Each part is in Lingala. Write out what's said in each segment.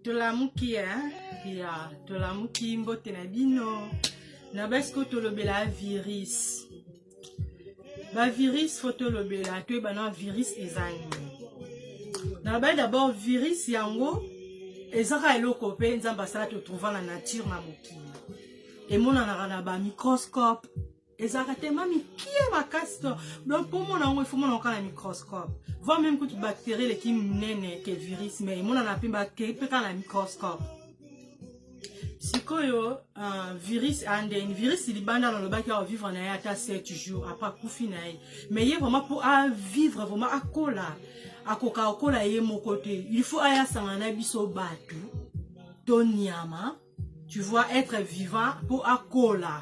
tolamuki ya tolamuki mbote na bino na basi ko tolobela virus bavirus fo tolobela toyeba na virus eza nini na ba d'abord virus yango ezaka eloko mpe nzambe asala totrouva na nature na mokili emonanaka na bamicroscope ezalaka tellement mikie makasi to donc mpo omona yango ifo mona oka na microscope voi meme kutu bacterie eleki monene ke virus mais emonana mpe bakei mpe kaka na microscope sikoyo uh, virus andeni virus libanda nalobaki awa vivre na ye ata 7 jours apres akufi na ye mais ye vraiment mpo avivre vraiment akola akoka kokola ye moko te il faut aya asangana na biso bato to nyama tu vois être vivant mpo akola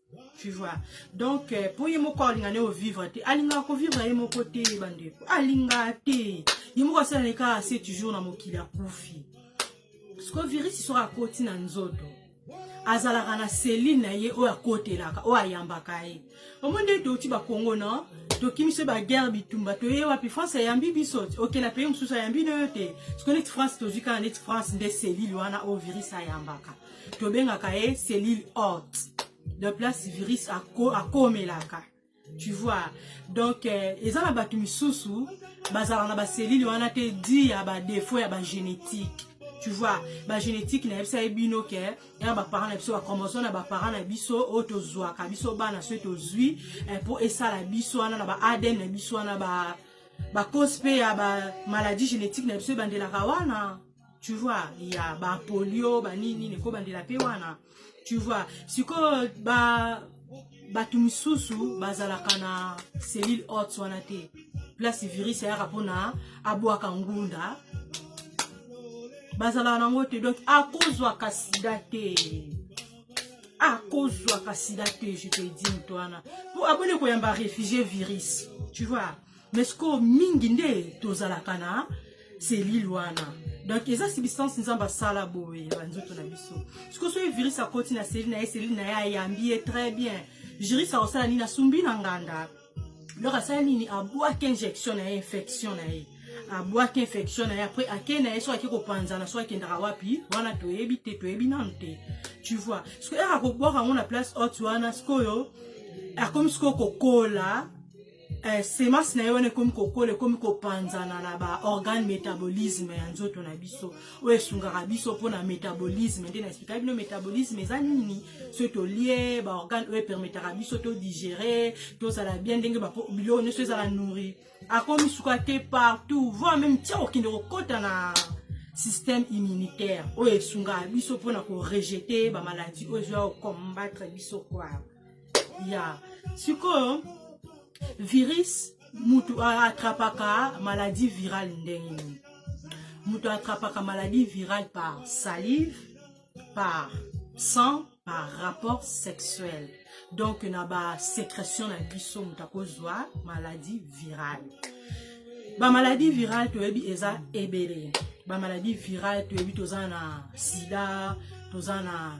tu vois donc euh, mpo ye moko alinga nde ovivre te alingaka kovivre ye moko te bandeko alingaka te ye moko asala ne kaka se toujours na mokili akufi sikoyo virisi soki akoti na nzoto azalaka na selile na ye oyo akotelaka oyo ayambaka ye omoni nde touti bakongo no tokimi so baguerre bitumba toye wapi france ayambi biso okela peye mosusu ayambi no yo te sikoyo neti france tozwi kaka neti france nde selile wana oyo virisi ayambaka tobengaka ye cellule haute de place virus akomelaka tu vois donc euh, eza na bato misusu bazalaka na baselile wana te di ya badefaut ya bagénétique tu vois bagénétique nayebisa ye bino ke ya baparent na biso bachromosome na baparent na biso oyo tozwaka biso bana soki tozwi eh, mpo esala biso wana na ba adn na biso wana ba bacause mpe ya bamaladi génétique na biso ebandelaka wana tu vois ya bapolio banini ekobandela mpe wana tu vois sikoyo ba bato misusu bazalaka na cellule hot wana te place virus ayaka mpona abwaka ngunda bazalaka nango te donc akozwaka sida te akozwaka sida te je te dis moto wana mpo aboni koyamba réfugie virus tu vois mais sikoyo mingi nde tozalaka na selile wana donc eza substance nzambe asala boye ya banzoto na biso sikoyo soki virus akoti na selile na ye selile na ye ayambi ye très bien virus akosala nini asumbi na nganda donc asala nini abwaki injection na ye infection na ye abwaki infection na ye après akei na ye soki ake kopanzana soki akendaka wapi wana toyebi te toyebi nanu te tu vois sikoyo ere akobwaka yango na place haute wana sikoyo akomi sikoyo kokola eh, semence na ye wana ekomi kokola ekomi kopanzana na baorgane métabolisme ya nzoto na biso oyo esungaka biso mpona métabolisme nde na explika bino métabolisme eza nini soki tolie baorgane oyo epermetaka biso todigere tozala bien ndenge biloko nyonso ezala nourri akomi suka te partout voi meme tia kokende kokota na système immunitaire oyo esungaka biso mpona korejete bamaladi oyo ezoya kokombattre biso kwaa ya sikoyo virus mutu atrapaka maladie virale ndenge nini mutu atrapaka maladie virale par salive par sang par rapport sexuel donc na basécression na biso moto akozwa maladie virale bamaladi virale toyebi eza ebele bamaladi virale toyebi toza na sida toza na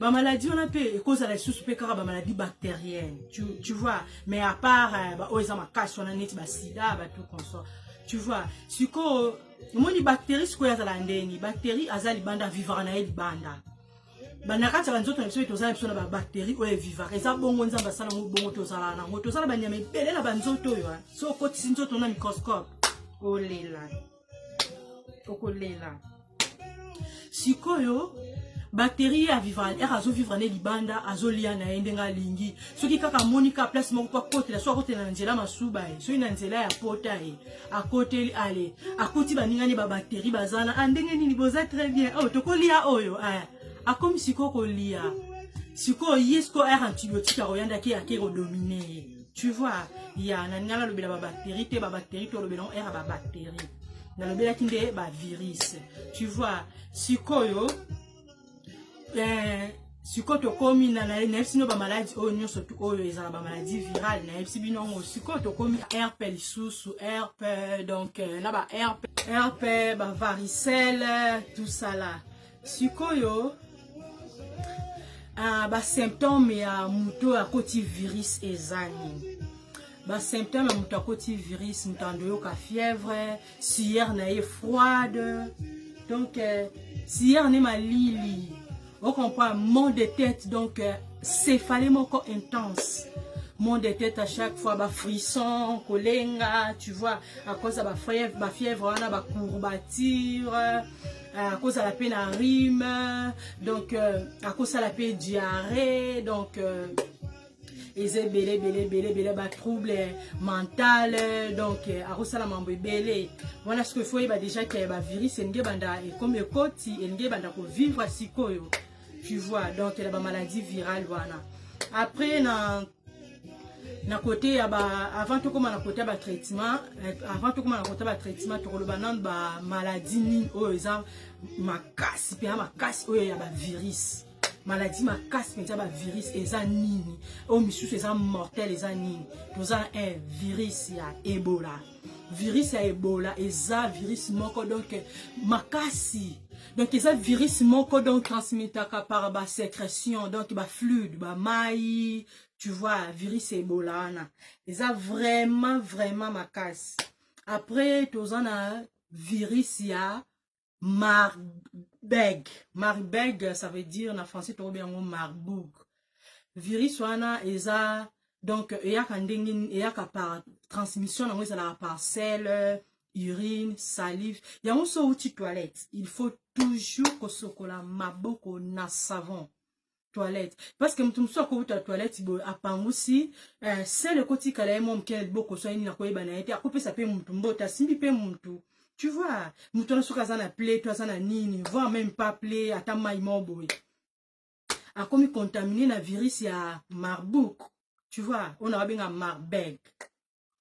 ba maladie wana mpe ekozala lisusu mpe kaka ba maladie bactérienne tu, tu vois mais à part euh, ba oyo eza makasi wana neti basida bato consort tu vois sikoyo omoni bactérie sikoyo azala ndeni bactérie aza libanda vivaka na ye libanda na kati ya banzoto na biso ete ozala biso na babactérie oyo evivaka eza bongo nzambe asala yango bongo tozalaka nango tozala banyama ebele na banzoto oyo so okotisi nzoto na microscope olela okolela sikoyo bateri ya vivre ere azovivre ne libanda azolia na ye ndenge alingi soki kaka amoni ka place moko mpo akotela so akotela na nzela masuba ye soki na nzela ya pota ye akoteli ale akoti baninga ne babateri baza na a ah, ndenge nini boza très bien oyo oh, tokolia oyo eh. akomi sikoyo kolia sikoyo ye sikoyo ere antibiotique akoyandaki ake kodomine ye tu vois ya na ningala lobela ba bactérie te ba bactérie to lobela ngo era ba bactérie na lobela ki nde ba virus tu vois sikoyo eh, sikoyo tokomi na nayebisi bino bamaladi oyo nyonso oyo ezala bamaladi virale nayebisi bino yango sikoyo tokomi rp lisusu rp donc euh, na ba rp rp bavaricelle tout ça là sikoyo uh, basymptome ya moto oyo akoti virus eza nini basymptome ya moto akoti virus moto andoyoka fièvre suyer na ye froide donc euh, suyer ne malili ocomprend mont de tête donc euh, céphale moko intense monde de tête à chaque fois ba frisson kolenga tu vois à cause ba fièvre ba fièvre wana ba courbature Ah, akozala mpe na rime donc euh, akosala mpe diarrhée donc euh, eza ebele ebele ebele ebele batrouble mental donc euh, akosala mambo ebele wana siko efo oyeba déjà ke bavirus elingi ebanda ekomi ekoti elingi ebanda kovivre sikoyo tu vois donc na bamaladi virale wana après na na kote ya ba avant tokóma na kote ya batraitement eh, avant tokóma na kote ya batraitement tokoloba nano bamaladi nini oyo eza makasi mpenza makasi oyo ya bavirus maladi makasi mpenza bavirus eza nini oyo misusu eza mortel eza nini toza na un virus ya ebola virus ya ebola eza virus moko donc makasi donc eza virus moko donc transmitaka par ba sécrétion donc ba fluide ba mai tu vois virus ya ebola wana eza vraiment vraiment makasi après toza na virus ya marbeg marbeg ça veut dire na français tokobi yango marboug virus wana eza donc eyaka ndenge eyaka par transmission nango ezalaka par sel urine salive yango so outi toilette il faut toujours kosokola maboko na savon toilette parce que moto mosusu akowuta toilette boye apangusi eh, sele ekotikala ye mwa moke na liboko so ayini na koyeba na ye te akopesa mpe motu mbote asimbi mpe motu tu vois motu wana soki aza na ple to aza na nini voir même pas ple ata mai moko boye akomi contamine na virus ya marbouk tu vois oyo na babenga marbeg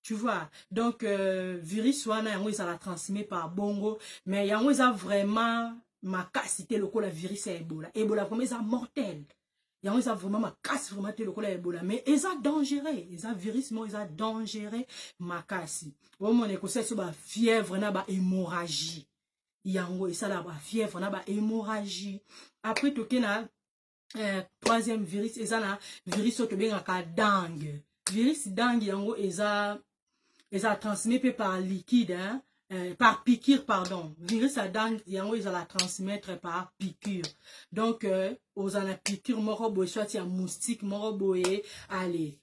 tu vois donc euh, virus wana yango ezala transmet par bongo mais yango eza vraiment makasi te lokola virus ya ebola ebola vraiment eza mortel yango eza vraiment makasi vraiment te lokola ebola mais eza dangereux eza virus moko eza dangereux makasi omona ekosala biso bafièvre na bahémorragie yango esalaka bafièvre na bahémorragie après toke na eh, troisième virus eza na virus oyo tobengaka dangue virus dangue yango eza eza transmet mpe par liquide hein? Euh, par piqûre, pardon. Virus à dents, yango ils la transmettre par piqûre. Donc, euh, aux ana piqûre, moro boye, soit ya moustique, moro boye, allez.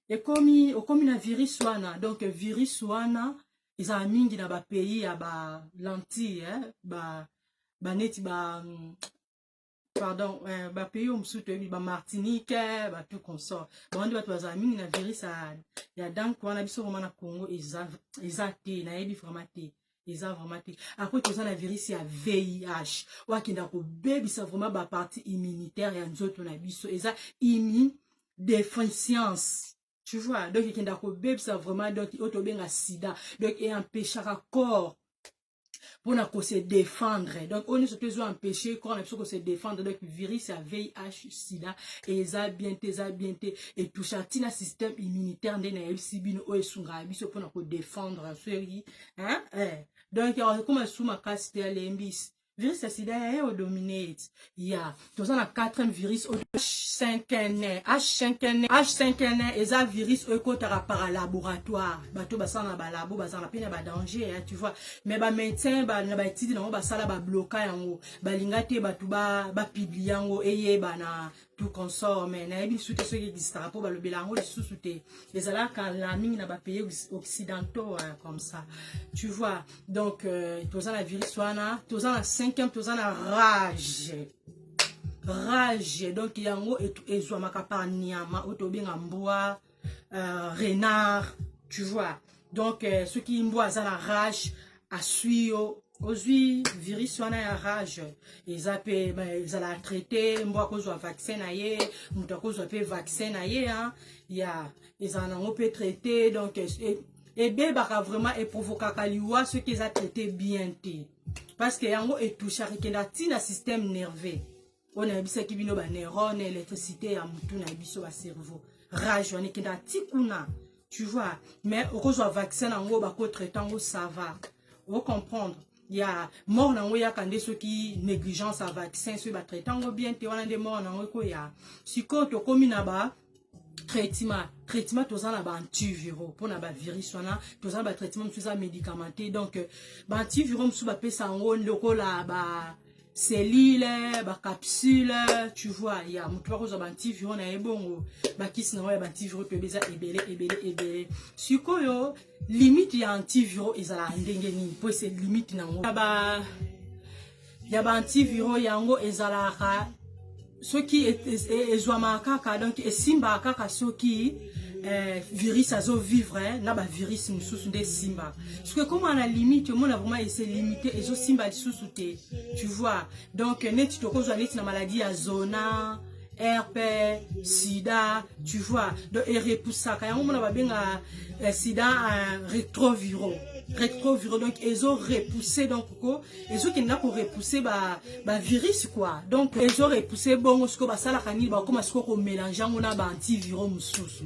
Et comme, comme na virus wana, donc virus wana, ils ont mingi na ba pays ya ba lentilles, hein, ba, ba neti ba, pardon euh, ba pays au mususu toyebi ba martinique eh, ba tout consort bango nde bato bazala mingi na virus ya, ya dank wana biso vraiment na congo eza, eza te nayebi vraiment te eza vraiment te après toza na virus ya vih oyo akenda kobebisa vraiment bapartie immunitaire ya nzoto na biso eza immu déficience tu vois donc ekenda kobebisa vraiment donc oyo tobenga sida donc eempeshaka corps pona ko se défendre donc oyo nyonso mpe ezo empêche corps na biso ko se défendre donc virus ya vih sida eza bien te eza bien te etoucha ntina système immunitaire nde nayebisi bino oyo esungaka biso mpona ko défendre soki hein? eh. donc ekoma esu makasi te alembisi virus ya sida yaye odomine ete ya toza na 4e virus oyo h5n h5n h5n eza virus oyo ekotaka par laboratoire bato basala na balabo bazala mpe na badanger ya tu vois mais bamédecin na baetide nango basala babloka yango balinga te bato bapiblie yango eyebana tout consort mais nayebi lisusu te soki existaka mpo balobela yango lisusu te ezalaka la mingi na bapays occidentaux comme ça tu vois donc euh, toza na virus wana toza na cinquième toza na rage rage donc yango ezwamaka par nyama oyo tobenga mbwa euh, renard tu vois donc euh, soki mbwa aza na rage aswi yo ozwi virus wana ya rage eza mpe ezala traite mbwa akozwa vaccin na ye moto akozwa mpe vaccin na ye ya ezala nango mpe traite donc ebebaka vraiment eprovokaka liwa soki eza traite bien te parce que yango etouchaka ekenda ti na système nerveux oyo nayebisaki bino baneurone électricité ya motu na biso bacerveau rage wana ekenda ti kuna tu vois mais okozwa vaccin yango bakotraite yango sava ocomprendre ya mort na yango eyaka nde soki négligence ya vaccin soki batraite yango bien te wana nde mort na yango ekoya sikoyo tokómi na ba traitement traitement toza na baantiviro mpona bavirus wana toza na batraitement mosusu eza médicamenté donc euh, baantiviro mosusu bapesa yango lokola ba cellule bacapsule tu vois ya moto bakozwa baantiviro na ye bongo bakisi na yango ya baantiviro toyebi eza ebele ebele ebele sikoyo limite ya antiviro ezalaka ndenge nini mpo ese limite na yango ya ba antiviron yango ezalaka soki ezwamaka kaka donc esimbaka kaka soki eh, virus azo vivre eh, na ba virus mosusu nde esimbaka soki ekoma na limite omona vraiment ese limite ezosimba lisusu te tu vois donc neti tokozwa neti na maladie ya zona herpe sida tu vois donc erepusaka yango mona babenga eh, sida eh, retroviro retroviro donc ezo repousser donc ko ezo kenda ko repousser ba ba virus quoi donc ezo repousser bongo siko basalaka nini bakoma siko ko mélanger yango na ba antiviraux mosusu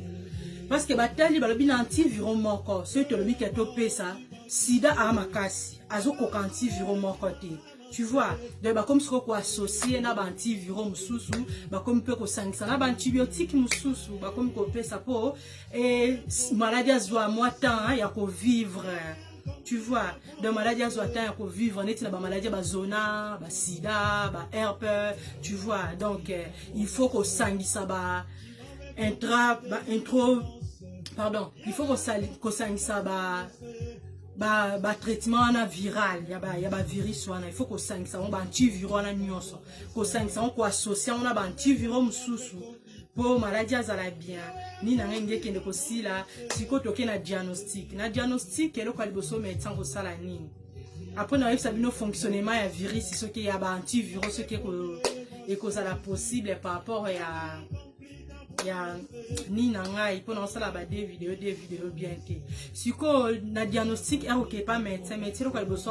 parce que batali balobi na antiviraux moko soki tolobi ke topesa sida aa makasi azokoka antiviraux moko te tu vois donc bakomi siko koassocie na baantiviraux mosusu bakomi mpe kosangisa na baantibiotique mosusu bakomi kopesa mpo eh, maladi azwa mwa temps ya kovivre tu vois donc maladi azwa temps ya kovivre neti na bamaladi ya bazona basida baherpe tu vois donc eh, il faut kosangisa ba intra ba intro pardon il faut kosangisa ba ba, ba traitement wana viral ya ba, ya ba virus wana il faut kosangisa yango ba antiviro wana nyonso kosangisa yango koassocie yango na ba antiviro mosusu mpo maladi azala bien nini na ngai nde ekende kosila sikoyo toke na diagnostic na diagnostic eloko ya liboso medecin kosala nini apres nakoyebisa bino fonctionnement ya virus soki ya ba antivirus soki ekozala possible par rapport ya ya nini na ngai mpo nakosala ba de video de video bien te sikoyo na diagnostic akokepa medecin medecin eloko ya liboso